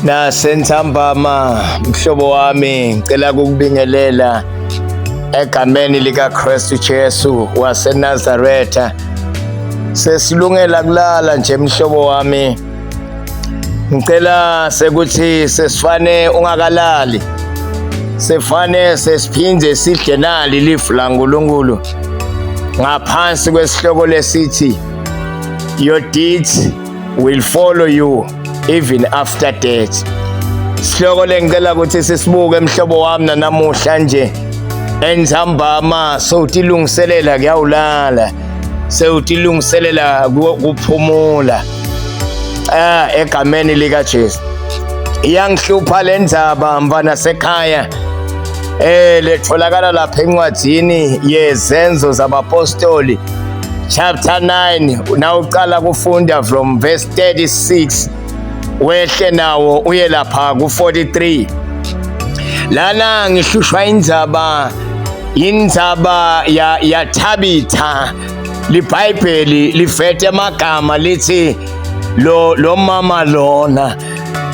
Nasentambama mhlobo wami ngicela kukubingelela egameni likaKristu Jesu waseNazaretha sesilungela kulala nje mhlobo wami ngicela sekuthi sesifane ungakalali sefane sesiphinde sidle nali lifu laNkulunkulu ngaphansi kwesihloko lesithi your deeds will follow you even after death sihloko lengicela ukuthi sisibuke mhlobo wami nanamuhla nje enzambama sowutilungiselela kuyawulala sewutilungiselela kuphumula ah egameni lika Jesu iyangihlupha le ndaba mfana sekhaya eh letholakala lapha encwadini yezenzo zabapostoli chapter 9 na uqala kufunda from verse 36 wehle nawo uye lapha ku-43 lana ngihlushwa indzaba indzaba yathabitha ya libhayibheli lifete amagama lithi lo lo mama lona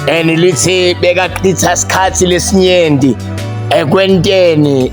and lithi bekachitha isikhathi lesinyenti ekwenteni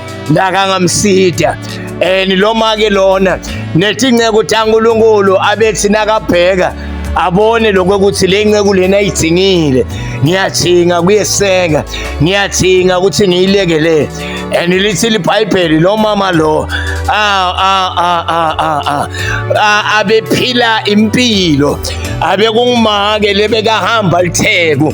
nakangamsida and lo make lona nethi inceku ukuthi ankulunkulu abethi nakabheka abone lokho ukuthi le nceku lena ayidingile ngiyadinga kuyeseka ngiyadinga ukuthi ngiyilekelele and lithi libhayibheli lo mama lo abephila impilo abekungumake lebekahamba litheku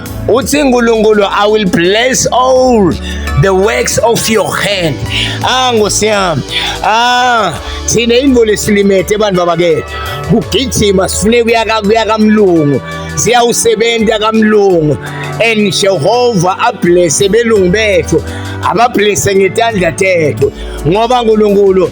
uthi nkulunkulu i will bless all the works of your hand ah nkosi yami ah thina imvula esilimete abantu babakethu kugijima sifune kuya kamlungu siyawusebenza kamlungu and jehova ablese belungu bethu abablese ngetandla tethu ngoba nkulunkulu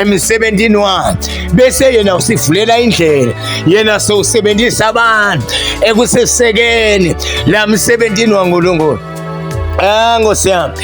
emsebenzini wakhe bese yena usivulela indlela yena sowusebenzisa abantu ekusesekeni la msebenzini waNkulunkulu Ah Nkosi yami.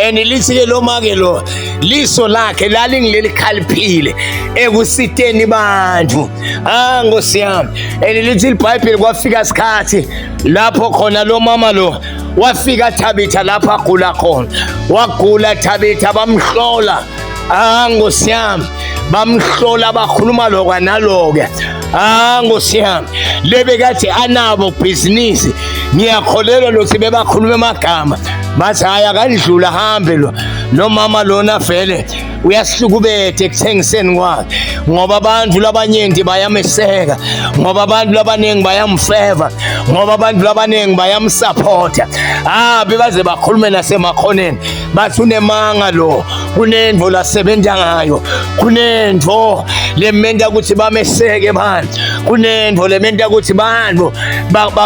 And lithi ke lo make lo liso lakhe lalingileli khaliphile ekusiteni bantu. Ah Nkosi yami. And lithi iBhayibheli kwafika isikhathi lapho khona lo mama lo wafika Thabitha lapha agula khona. Wagula Thabitha bamhlola ah nkosi yami bamhlola bakhuluma lokwa naloke ah nkosi yami lebekathi anabo bhizinisi ngiyakholelwa lokuthi bebakhuluma amagama bathi hayi akandlula hambe lo nomama lona vele uyahlukubethe ekuthengiseni kwakhe ngoba abantu labanyengi bayameseka ngoba abantu labaningi bayamfeva ngoba abantu labaningi bayamsupporta ah bebaze bakhulume nasemakhoneni bathi unemanga lo kunento lasebenza ngayo kunento lementa ukuthi bameseke manje kunento lementa ukuthi bantu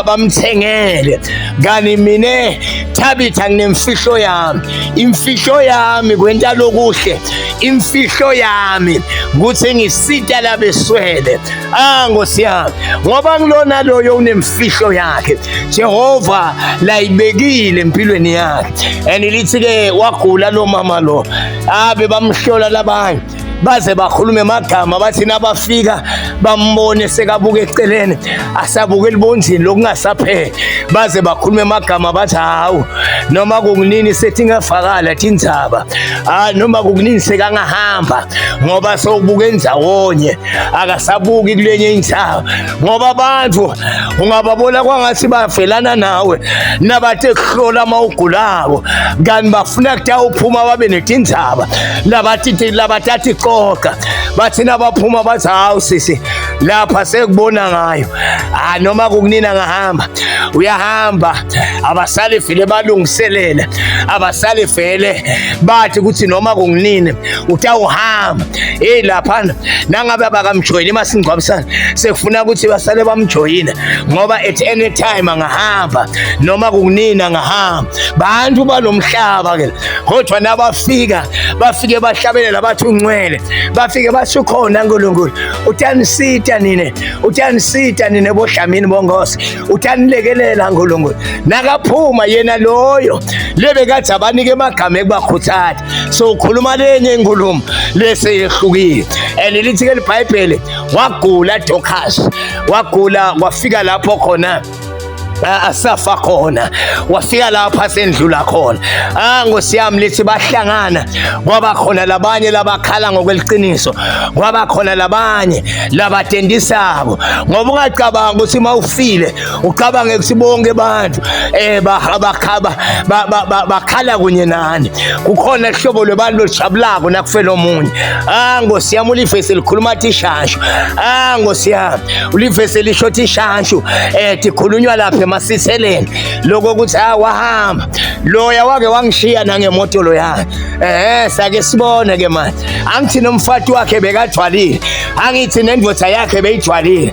bamthengele kani mina Thabitha nginemfihlo yami imfihlo yami kwenta lokuhle imfihlo yami ukuthi ngisita labeswele ah ngosiyami ngoba ngilona loyo unemfihlo yakhe Jehova layibekile empilweni yakhe and lithi ke wagula lo mama lo abe bamhlola labanye baze bakhulume magama bathi nabafika bambone sekabuka eceleni asabuka elibonzini lokungasapheli baze bakhulume magama bathi hawu noma kunini sethi ngafakala tindzaba ah noma kunini sekangahamba ngoba sowubuka endawonye akasabuki kulenye indawo ngoba abantu ungababona kwangathi bavelana nawe nabathe kuhlola uma ugulako kanti bafuna kuta uphuma babe netindzaba labathi labathathi coca bathi nabaphuma bathi hawu sisi lapha sekubona ngayo ha noma kukunina ngahamba uyahamba abasale vele balungiselele abasale vele bathi ukuthi noma kunginini utawuhamba hey laphana nangabe abakamjoyini masingcwabisana sekufuna ukuthi basale bamjoyina ngoba at any time angahamba noma kunini angahamba bantu balomhlaba ke kodwa nabafika bafike bahlabele labathi uncwele bafike basho khona uNkulunkulu utanisita nine utanisita nine bodlamini bongosi utanilekelela uNkulunkulu nakaphuma yena loyo lebe kathi abanike emagama ekubakhuthatha so ukhuluma lenye inkulumo leseyehlukile and lithi ke libhayibheli wagula Dorcas wagula wafika lapho khona asafa khona wafika lapha sendlula khona ah ngosiyami lithi bahlangana kwaba khona labanye labakhala ngokweliqiniso kwaba khona labanye labatendisako ngoba ungacabanga ukuthi mawufile ucabange ukuthi bonke abantu eh bakhaba bakhala kunye nani kukhona ihlobo lwebantu olujabulako nakufela omunye ah ngosi yami ulivesi likhuluma athi ishanshu ah ngosi yami ulivesi lisho athi ishanshu eh tikhulunywa lapha emasiseleni lokho ukuthi ah wahamba loya wake wangishiya nangemoto loyana eh sake sibone ke manje angithi nomfati wakhe bekathwalile angithi nendoda yakhe beyithwalile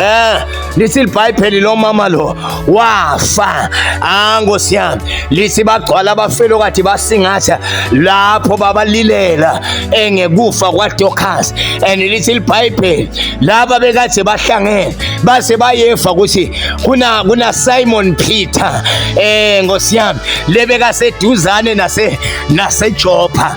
Eh, lithi libhayibheli lo mama lo wafa ah nkosi yami lithi bagcwala abafelo kade basingatha lapho babalilela engekufa kwaDorcas and lithi libhayibheli laba bekade bahlangene base bayefa ukuthi kuna kuna Simon Peter eh nkosi yami lebeka seduzane nase naseJoppa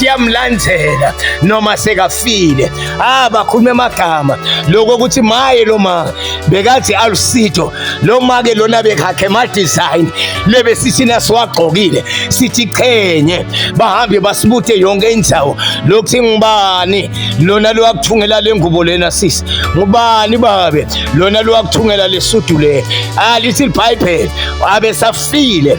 yamlandela noma sekafile ah bakhulume amagama lokho ukuthi maye lo ma bekathi alusitho lo ma ke lona bekhakhe ma design lebe sisina siwagqokile sithi qhenye bahambe basibuthe yonke indzawo lokuthi ngibani lona lo wakuthungela lengubo lena sisi ngubani babe lona lo wakuthungela lesudu le alithi ah, iBhayibheli abe safile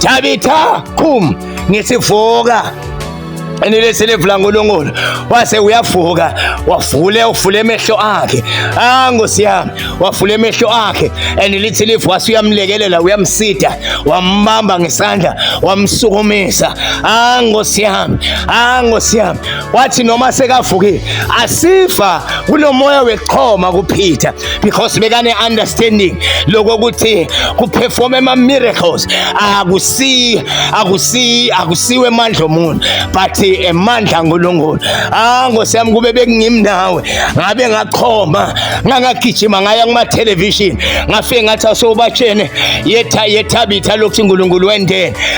Tabitha qhum ngisivuka enileselevulang ulongolo wase uyavuka wavule uvule emehlo akhe ah nkosi yami wavule emehlo akhe and lithi lifu wase uyamlekelela uyamsida wambamba ngesandla wamsukumisa ah nkosi yami ah nkosi yami wathi noma sekavukile asiva kunomoya wexhoma kuPeter because bekane understanding lokho ukuthi kuperform ama miracles akusi akusi akusiwe amandla omuntu but emandla uNkulunkulu ah ngosiyami kube bekungimi nawe ngabe ngaqhoma ngangagijima ngaya kuma television ngafike ngathi asobatshene yetha yethabitha lokhu uNkulunkulu wendene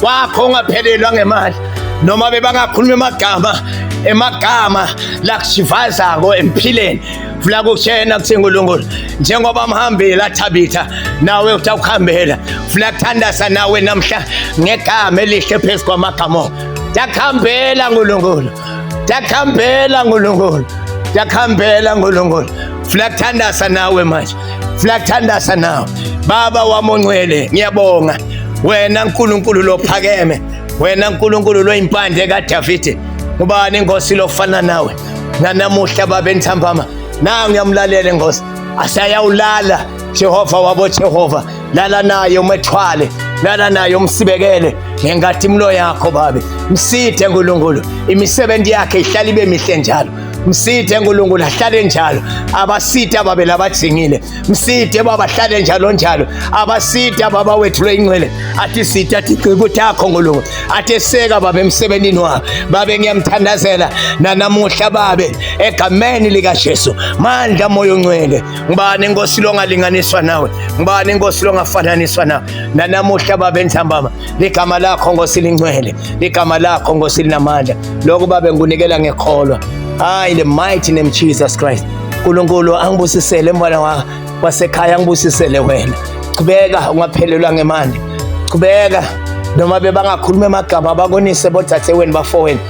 kwakho ungaphelelwa ngemali noma bebangakhuluma emagama emagama lakusivazako emphileni vula kushena kuthi nkulunkulu njengoba amhambile athabitha nawe uthi akuhambela vula kuthandaza nawe namhla ngegama elihle phezu kwamagama ngiyakuhambela nkulunkulu ngiyakuhambela nkulunkulu ngiyakuhambela nkulunkulu Funa kuthandaza nawe manje. Funa kuthandaza nawe. Baba wami ongcwele, ngiyabonga. Wena uNkulunkulu lophakeme. Wena uNkulunkulu loyimpande kaDavide. Ubani inkosi lofana nawe? Nanamuhla babe nthambama. Na ngiyamlalela inkosi. Asayawulala Jehova wabo Jehova. Lala naye umethwale. Lala naye umsibekele ngenkathi imlo yakho babe. Msithe uNkulunkulu. Imisebenzi yakhe ihlala ibe mihle njalo. msithe nkulunkulu ahlale njalo abasithe ababe labajingile msithe baba ahlale njalo njalo abasithe baba wethu lweyinxele athi sithe athi gcika ukuthi akho nkulunkulu athi seka babe emsebenzini wakho babe ngiyamthandazela nanamuhla babe egameni likajesu mandla moya oncwele ngubani inkosi longalinganiswa nawe ngubani inkosi longafananiswa nawe nanamuhla babe ntambama ligama lakho Nkosi lingcwele ligama lakho Nkosi linamandla lokho babe ngunikela ngekholwa hayi the mighty name Jesus Christ Nkulunkulu angibusisele mfana wa wasekhaya angibusisele wena qhubeka ungaphelelwa ngemandla qhubeka noma bebangakhuluma emagama bakonise bodadewenu bafowenu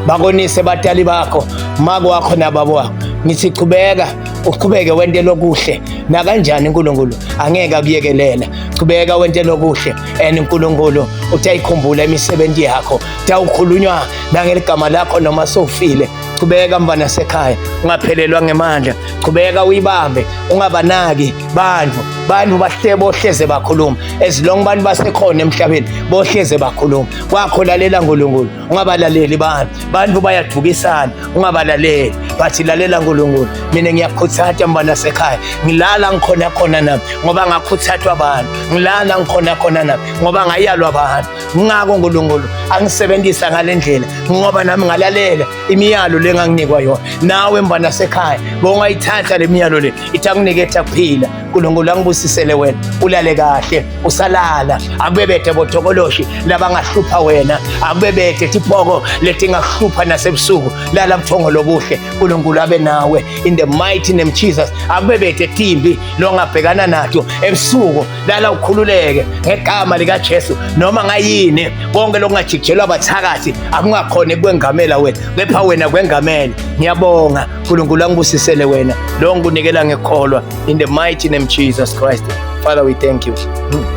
bakonise batali bakho mako wakho nababo wakho ngithi qhubeka uqhubeke wente lokuhle nakanjani uNkulunkulu angeke akuyekelela qhubeka wente lokuhle and uNkulunkulu utayikhumbula imisebenzi yakho tawukhulunywa nangeligama lakho noma sofile chubeka mfana sekhaya ungaphelelwa ngemandla chubeka uyibambe ungabanaki bantu bantu bahle bohleze bakhuluma as long abantu basekhona emhlabeni bohleze bakhuluma kwakho lalela uNkulunkulu ungabalaleli bantu bantu bayadukisana ungabalaleli bathi lalela nkulunkulu mina ngiyakhuthata mbana sekhaya ngilala ngikhona khona nami ngoba ngakhuthathwa abantu ngilala ngikhona khona nami ngoba ngayalwa abantu ngako nkulunkulu angisebenzisa ngale ndlela ngoba nami ngalalela imiyalo le nganginikwa yona nawe mbana sekhaya bongayithatha le miyalo le ithi akunike ethi akuphila nkulunkulu angibusisele wena ulale kahle usalala akubebethe botokoloshi labangahlupha wena akubebethe tipoko letingakuhlupha nasebusuku lala buthongo lobuhle nkulunkulu abe nawe in the mighty name jesus akubebethe timbi longabhekana nato ebusuku lala ukhululeke ngegama likajesu noma ngayini konke lokungajikijelwa bathakathi akungakhona ekwengamela wena kepha wena kwengamele ngiyabonga uNkulunkulu angibusisele wena lo ngikunikela ngekholwa in the mighty name Jesus Christ Father we thank you hmm.